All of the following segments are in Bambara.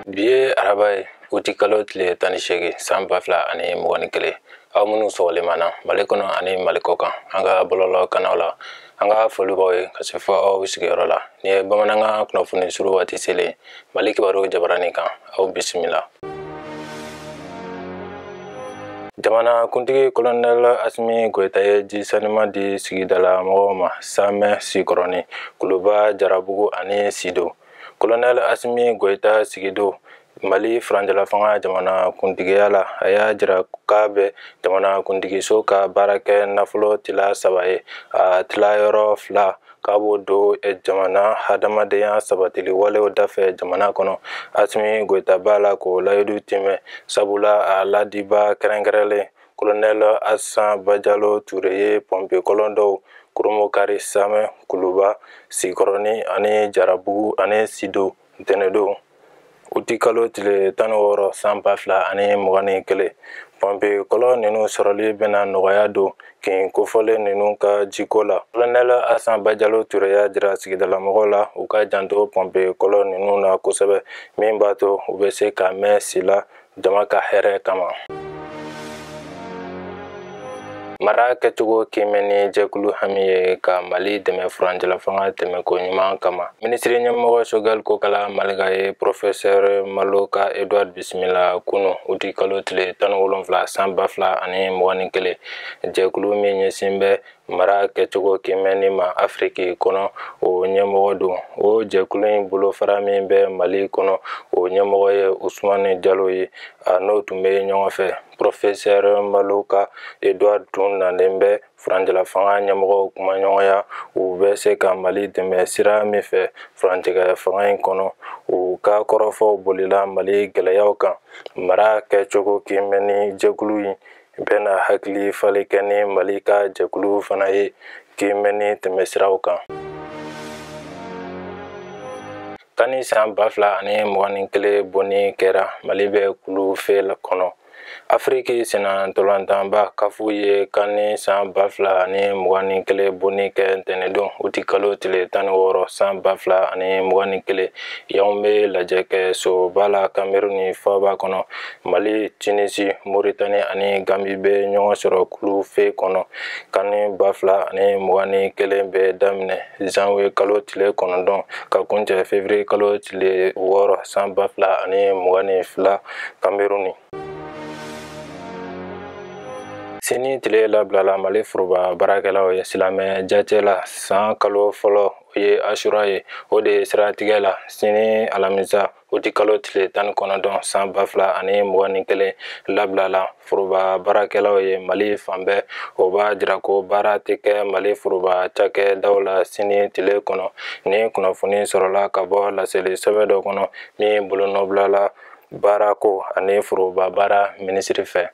bi ye araba ye uti kalo tile tan ni seegin san ba fila ani mugan ni kelen aw minnu sɔgɔlen b'an na mali kɔnɔ ani mali kɔkan an ka bɔlɔlɔ kanaw la an ka foli b'aw ye ka se fɔ aw sigiyɔrɔ la nin ye bamanankan kunnafoni suru waati selen mali kibaru jabaranin kan aw bisimila jamana kuntigi kolonɛl asimi goyita ye ji saniman di sigidala mɔgɔw ma samɛ sikɔrɔni kuluba jarabugu ani sido kolonɛl asimi goyita sigidon mali furancɛlafanga jamana kuntigiya la a y'a jira k'a bɛ jamana kuntigiso ka baarakɛnafolo tila saba ye a tilayɔrɔ fila k'a b'o don eh, jamana hadamadenya sabatili walew dafɛ jamana kɔnɔ asimi goyita b'a la k'o layidu tiimɛ sabula a laadibaa kɛrɛnkɛrɛnlen kolonɛl asan bajalo ture ye pɔnpe kɔlɔn dɔw kurunbonkari samɛ kuluba sikɔrɔni ani jarabugu ani sido ntɛnɛdon uti kalo tile tan ni wɔɔrɔ san ba fila ani mugan ni kelen pɔnpe kɔlɔn ninnu sɔrɔli bɛna nɔgɔya don kin kofɔlen ninnu ka jiko la kolonɛl asan bajalo ture y'a jira sigidalamɔgɔw la u ka janto pɔnpe kɔlɔn ninnu na kosɛbɛ min b'a to u bɛ se ka mɛɛn si la jama ka hɛrɛ kama mara kɛcogo kiimɛni jɛkulu hami ye ka mali dɛmɛ furancɛlafanga tɛmɛko ɲuman kama minisiri ɲɛmɔgɔ sogɛli kokala mayiga ye profɛsɛr maloka edward bisimila kunu uti kalo tile tan ni wolonfila san ba fila ani mugan ni kelen jɛkulu min ɲɛsin bɛ mara kɛcogo kiimɛni ma afiriki kɔnɔ o ɲɛmɔgɔ don o jɛkulu in bolofara min bɛ mali kɔnɔ o ɲɛmɔgɔ ye usumani jalo ye a n'o tun bɛ ɲɔgɔn fɛ pɔrɔfesɛr maloka edward tun nalen bɛ furancɛlafanga ɲɛmɔgɔw kumaɲɔgɔnya u bɛ se ka mali dɛmɛ sira min fɛ furantigɛ fanga in kɔnɔ u ka kɔrɔfɔw bolila mali gɛlɛyaw kan mara kɛcogo kiimɛni jɛkulu in bɛna hakili falen kɛ ni mali ka jɛkulu fana ye kiimɛni tɛmɛsiraw kan kani san ba fila ani mugan ni kelen bonni kɛra mali bɛ kulu fe kɔnɔ afiriki senna ntola tɔnba kafu ye kani san ba fila ani mugan ni kelen bonni kɛ ntɛnɛdon uti kalo tile tan ni wɔɔrɔ san ba fila ani mugan ni kelen yawunde lajɛkɛsoba la kameruni faaba kɔnɔ mali tinisi moritani ani gambi bɛ ɲɔgɔn sɔrɔ kulu fɛ kɔnɔ kani ba fila ani mugan ni kelen bɛ daminɛ zanwiye kalo tile kɔnɔntɔn ka kuncɛ fevriye kalo tile wɔɔrɔ san ba fila ani mugan ni fila kameruni sini tile labilala mali foroba baarakɛlaw ye silamɛ jate la san kalo fɔlɔ o ye asura ye o de ye siratigɛ la sini alamisa uti kalo tile tan ni kɔnɔntɔn san ba fila ani mugan ni kelen labilala foroba baarakɛlaw ye mali fan bɛɛ o b'a jira ko baara tɛ kɛ mali foroba cakɛdaw la sini tile kɔnɔ ni kunnafoni sɔrɔla ka bɔ laseli sɛbɛn dɔ kɔnɔ min bolonɔbilala baarako ani foroba baara minisiri fɛ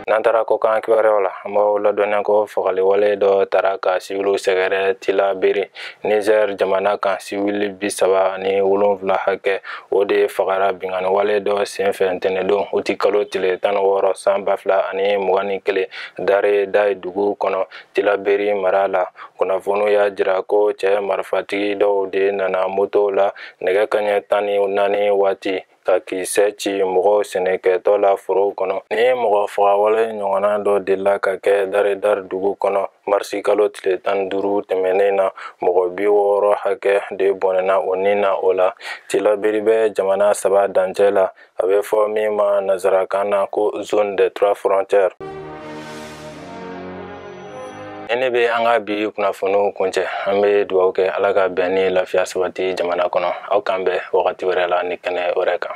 n'an taara kɔkan kibaruyaw la an b'aw ladɔnniya ko fagaliwale dɔ taara ka siwiliw sɛgɛrɛ tilaberi nizɛr jamana kan siwili bi saba ni wolonfila hakɛ o de fagara binganiwale dɔ senfɛ ntɛnɛndon uti kalo tile tan ni wɔɔrɔ san ba fila ani mugan ni kelen dare daye dugu kɔnɔ tilaberi mara la kunnafoniw y'a jira ko cɛ marifatigi dɔw de nana moto la nɛgɛ kaɲɛ tan ni naani waati ka kisɛ ci mɔgɔw sɛnɛkɛtɔ la forow kɔnɔ ni mɔgɔ fagawale ɲɔgɔnna dɔ delila ka kɛ daredari dugu kɔnɔ marisi kalo tile tan duuru tɛmɛnen na mɔgɔ bi wɔɔrɔ hakɛ de bɔnɛna u nin na o la tilaberi bɛ jamana saba dancɛ la a bɛ fɔ min ma nazarakan na ko zone des trois frontières ni ne bɛ an ka bi kunnafoniw kuncɛ an bɛ dugawu kɛ ala ka bɛn ni lafiya sabati jamana kɔnɔ aw k'an bɛn wagati wɛrɛ la ni kɛnɛ wɛrɛ kan